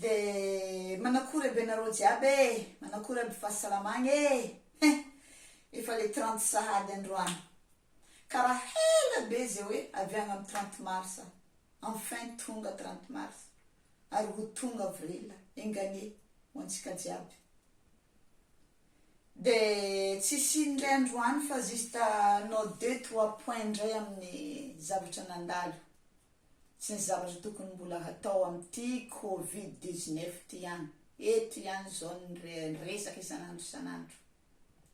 De manakory ambenareo jiaby e, manakory amby fahasalamagna e, hein! Efa le trente sahady androany. Karaha hela be ze hoe avy agny am trente mars, enfin tonga trente mars, ary ho tonga avril, enganie ho antsika jiaby. De tsisy ino ndray androany fa juste nos deux trois points ndray aminy zavatra nandalo. Tsy ny zavatra tokony mbola hatao amin'ity covid dix-neuf ity ihany, eto ihany izao ny resaka isan'andro isan'andro.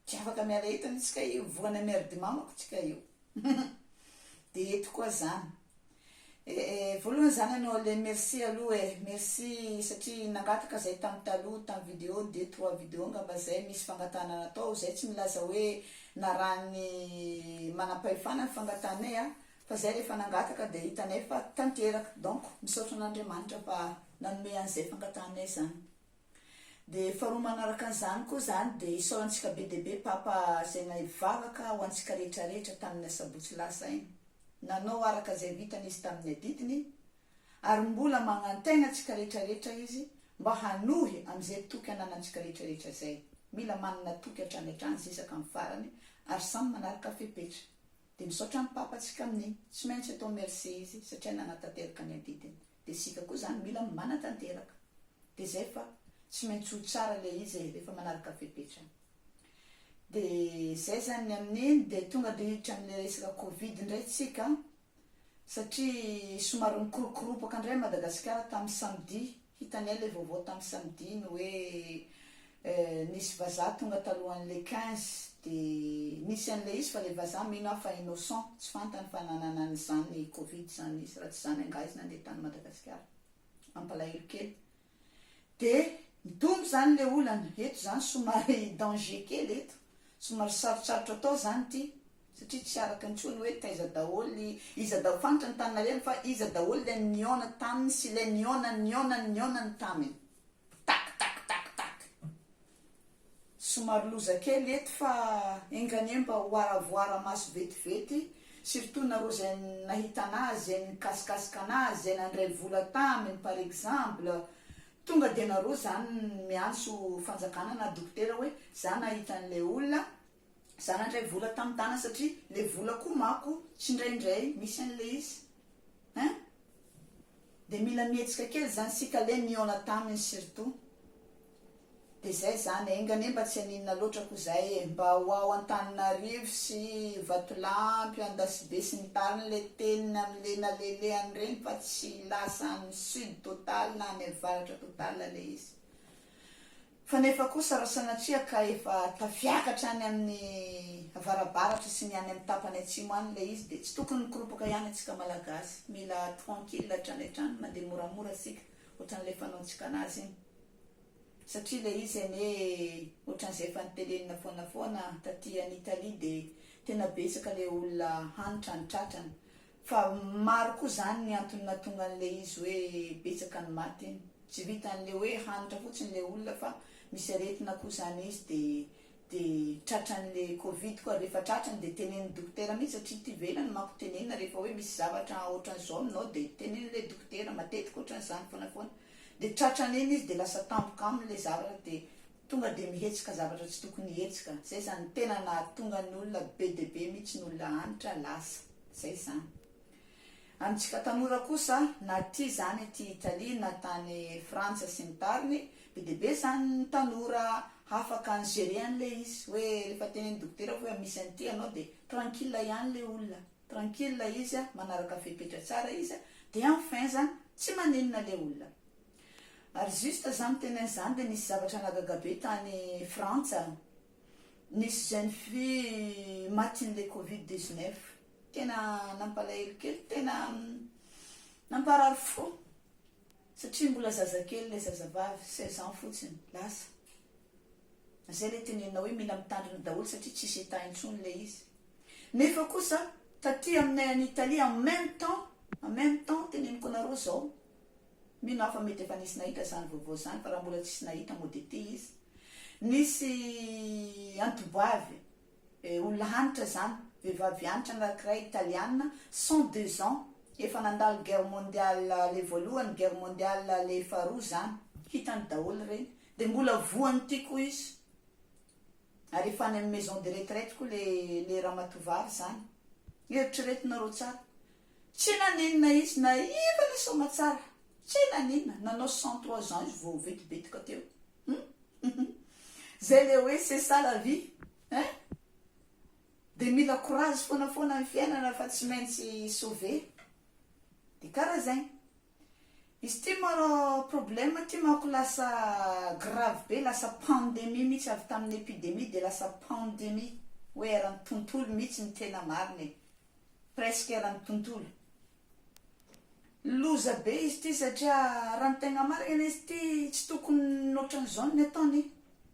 Tsy afaka miala eto anie tsika io, voana merdimamako tsika io. Dia eto koa izany. Eh, eh, voalohany izany ianao le merci aloha eh, merci satria nangataka izay tamin'ny taloha, tamin'ny vidéo deux trois vidéo angamba izay misy fangatahana natao, izay tsy milaza hoe narahan'ny manampahefana ny fangatahanay an, Fa zay rehefa nangataka dia hitanay fa tanteraka donc misaotra an'Andriamanitra fa nanome an'izay fangatahanay zany. Dia faharoa manaraka an'izany koa zany dia isaorantsika be dia be Papa zay nahivavaka ho antsika rehetra rehetra tamin'ny asabotsy lasa iny. Nanao araka zay vitany izy tamin'ny adidiny ary mbola magnantaigna antsika rehetra rehetra izy mba hanohy am'izay toky ananantsika rehetra rehetra zay. Mila manana toky hatrany hatrany zisaka amin'ny farany ary samy manaraka fepetra. Dia misaotra ny papa tsika amin'ny tsy maintsy atao merci izy satria nanatanteraka ny adidiny dia isika koa zany mila manatanteraka dia zay fa tsy maintsy ho tsara le izy e rehefa manaraka fepetra dia zay zany ny amin'iny dia tonga dia hiditra amle resaka covid ndray tsika satria somary nikoropkoropaka ndray Madagasikara tamin'ny samedi Hitanay ilay vaovao tamin'ny samedi ny hoe nisy vazaha tonga talohan'ny le quinze dia nisy an'ilay izy fa ilay vazaha mino aho fa innocent tsy fantany fa nanana an'izany covid izany izy raha tsy izany angaha izy nandeha tany Madagasikara mampalahelo kely dia mitombo izany ilay olana eto izany somary danger kely eto somary sarotsarotra atao izany ity satria tsy araka intsony ny hoe taiza daholo, iza daholo, fantatra ny tany nalehany fa iza daholo ilay nihaona taminy sy ilay nihaona nihaona nihaonany taminy. Tac tac tac tac. Somary loza kely eto fa enga anie mba ho aravoara maso vetivety, surtout nareo izay nahita anazy, izay nikasikasika anazy, izay nandray vola taminy par exemple, tonga dia nareo izany miantso fanjakana na dokotera hoe za nahita an'ilay olona, Za nandray vola tam tana satria le vola koa mako tsy ndraindray misy anle izy hein de mila mihetsika kely zany sika le nihaona taminy surtout de zay zany enga anie mba tsy haninona loatra ko zay e mba ho ao Antananarivo sy Vatolampy Andasibe sy ny tariny le teniny amle nalelehany reny fa tsy lasa any sud total na any avaratra total le izy Fa nefa kosa raha sanatria ka efa tafiakatra any amin'ny avarabaratra sy ny any amin'ny tapany atsimo any ilay izy dia tsy tokony mikoropaka ihany antsika malagasy. Mila tranquille hatrany hatrany, mandeha moramora isika ohatran'ilay fanaontsika anazy iny. Satria ilay izy anie ohatran'izay efa notelenina foana foana, taty any Italie dia tena betsaka ilay olona hanitra ny tratrany. Fa maro koa zany ny antony natonga an'le izy hoe betsaka ny maty iny. Tsy vitan'le hoe hanitra fotsiny le olona fa misy aretina koa zany izy de de tratran'le covid koa ary rehefa tratrany de tenenin'ny dokotera mihitsy satria ety ivelany manko tenenina rehefa hoe misy zavatra ohatran'zao aminao de tenenin'le dokotera matetika ohatran'zany foana foana de tratrany iny izy de lasa tampoka aminy le zavatra de Tonga dia mihetsika zavatra tsy tokony hihetsika, zay zany tena nahatonga ny olona be dia be mitsy ny olona antitra lasa, zay zany. Amintsika tanora kosa na aty zany aty Italie na tany Frantsa sy ny tariny, be dia be zany ny tanora hafaka ny gérer an'ilay izy, hoe rehefa tenen'ny dokotera hoe misy an'ity ianao dia tranquille ihany ilay olona, tranquille izy, manaraka fepetra tsara izy, dia enfin zany tsy maninona ilay olona. Ary juste za miteny an'izany dia nisy zavatra nahagaga be tany Frantsa, nisy jeune fille matin'ilay covid dix neuf, tena nampalahelo kely, tena namparary fo satria mbola zazakely ilay zazavavy, seize ans fotsiny, lasa. Izay ilay tenenina hoe mila mitandrina daholo satria tsisy état intsony ilay izy. Nefa kosa taty aminay any Italie en même temps, en même temps teneniko anareo izao, Mino aho fa mety efa nisy nahita izany vaovao izany fa raha mbola tsisy nahita moa dia ity izy. Nisy anti-boivy olona hanitra izany, vehivavy hanitra anankiray italiana, cent deux ans, efa nandalo guerre mondiale le voalohany, guerre mondiale le faharoa izany, hitany daholo ireny, dia mbola voan'ity koa izy, ary efa any amin'ny maison de retraite koa le le ramatoa vavy izany. Eritreretinareo tsara, Tsy naninona izy naiva le soamatsara tsy naninona nanao cent trois ans izy vao vetibetoka teo hum zay le hoe c'est ça la vie hein de mila courage foana foana ny fiainana fa tsy maintsy sauver de kara zegny Izy ty maro problème ty manko lasa grave be lasa pandemie mitsy avy taminy epidemie de lasa pandemie hoe erany tontolo mitsy ny tena marina e presque erany tontolo loza be izy ty satria raha ny tegna marina izy ty tsy tokony otrany zao ny ataony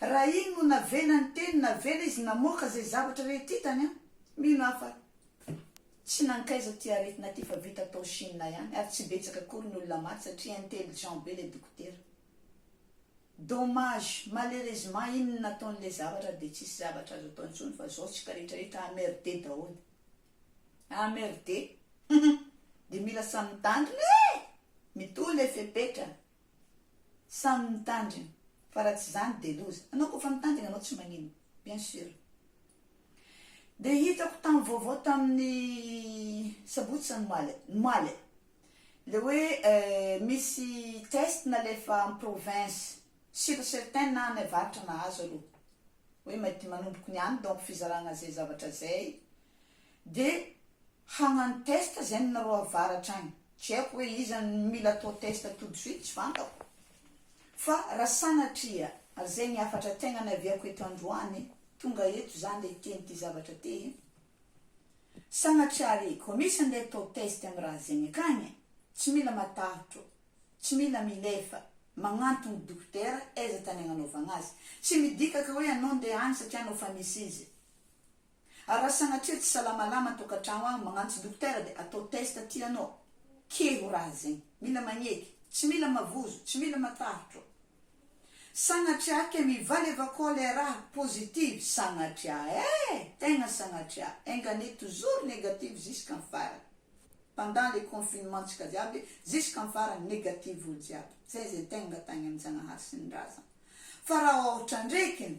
Raha iny no navela niteny navela izy namoaka izay zavatra rehetra hitany an! mino aho fa tsy nankaiza ity aretina ity fa vita tao Chine ihany ary tsy betsaka akory ny olona maty satria intelligent be le dokotera. Dommage, malheureusement iny no nataony le zavatra dia tsisy zavatra azo atao intsony fa zao tsika rehetra rehetra emmerder daholo. Emmerder! Humm! Dia mila samy mitandrina e! Mitohy le fepetra! Samy mitandrina fa raha tsy izany dia loza. Anao koa fa mitandrina anao tsy magnino bien sur. Dia hitako tam vaovao tamin'ny sabotsy sa ny omaly e, le hoe misy test nalefa am province sur certain na any avaratra nahazo aloha hoe manomboka ny any donc fizarana zay zavatra zay. de hagnano test zany nareo avaratra agny, tsy haiko hoe iza no mila atao test tout de suite tsy fantako fa raha sanatria ary zegny hafatra tegna niaviako eto androany tonga eto za nde hiteny ty zavatra ty e, sagnatria ary ko misy ande atao test amy raha zegny akagny e, tsy mila matahotro, tsy mila milefa, magnantogno dokotera aiza tany agnanaovagna azy, tsy midika ka hoe anao nde agny satria anao fa misy izy. Ary raha sanatria tsy salamalama ny tokantrano agny magnantso dokotera de atao test aty anao ke ho raha zegny mila magneky tsy mila mavozo tsy mila matarotro sagnatria ke mivaly avao koa le raha positive sagnatria eh tegna sagnatria enga anie toujours negative ziskam farany pendant le confinement tsika jiaby ziskam farany negative olo jiaby zay ze tegna tagny aminjagnahary sy ny razana fa raha ohatra ndreky ny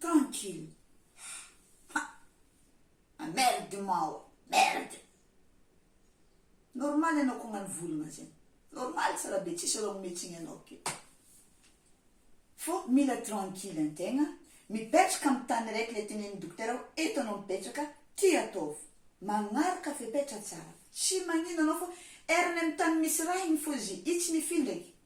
Tranquille ha ha merde mao a merde normal ianao kognany volagna zegny normal tsara be tsisy raha ometsigny anao ke fô mila tranquille antegna mipetraka amy tany araiky le tenenin'ny dokotera hoe eto anao mipetraka ty ataovy magnaraka fepetra tsara tsy magnino anao fô erany amy tany misy raha igny fô zy i tsy mifindra eky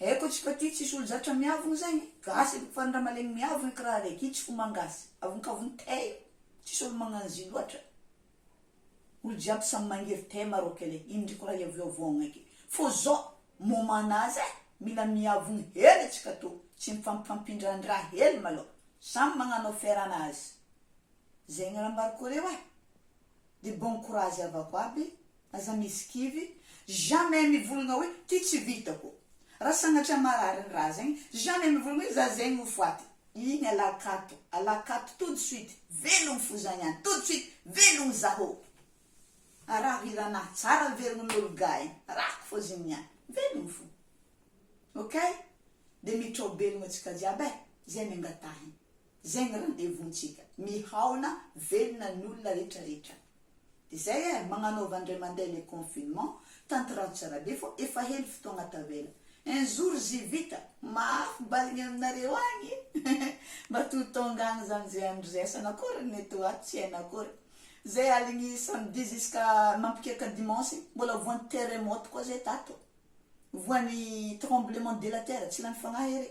Haiko atsika aty tsisy olo zatra miavogno zegny e, gasy avy fa ny raha malegny miavogny karaha araiky io tsy fomba an gasy, avonkavogno tey io, tsisy olo magnano zy loatra, olo jiaby samy mangery tey maroc le indriko raha hiavoavoagna eky fô zao moment n'a zay mila miavogno hely atsika tô tsy mifampifampindrandraha hely malôha samy magnano affaire anazy zegny raha ambarako areo e. de bon courage havako aby, aza misy kivy, jamais mivolagna hoe ty tsy vitako, raha sagnatria marary ny raha zegny, jamais mivolagna hoe za zegny ho faty, igny alà akato, alà akato tout de suite, velogno fo za niany, tout de suite, velogno zaho, araho hiranah, tsara velogno nolo gahy, arahako fô zegny niany, velogno fo, ok, de mitrao-belogno antsika jiaby e, zay no angatahigny. Zay ny rendez-vous ntsika. Mihaona velona ny olona rehetra rehetra. De zay eh, magnanaova ndray mandeha le confinement, tantrao tsara be fô efa hely fotoagna tavela. Un jour zzy vita, mafy bal gny aminareo agny mba to tonga agny zany zay andro zay, asana akory ny eto ato tsy haina akory. Zay aligny samedi jusqu'à mampikiaka dimanche, mbola voan'ny terremote koa zay tato, voan'ny tremblement de la terre, tsy lany fagnahy ery.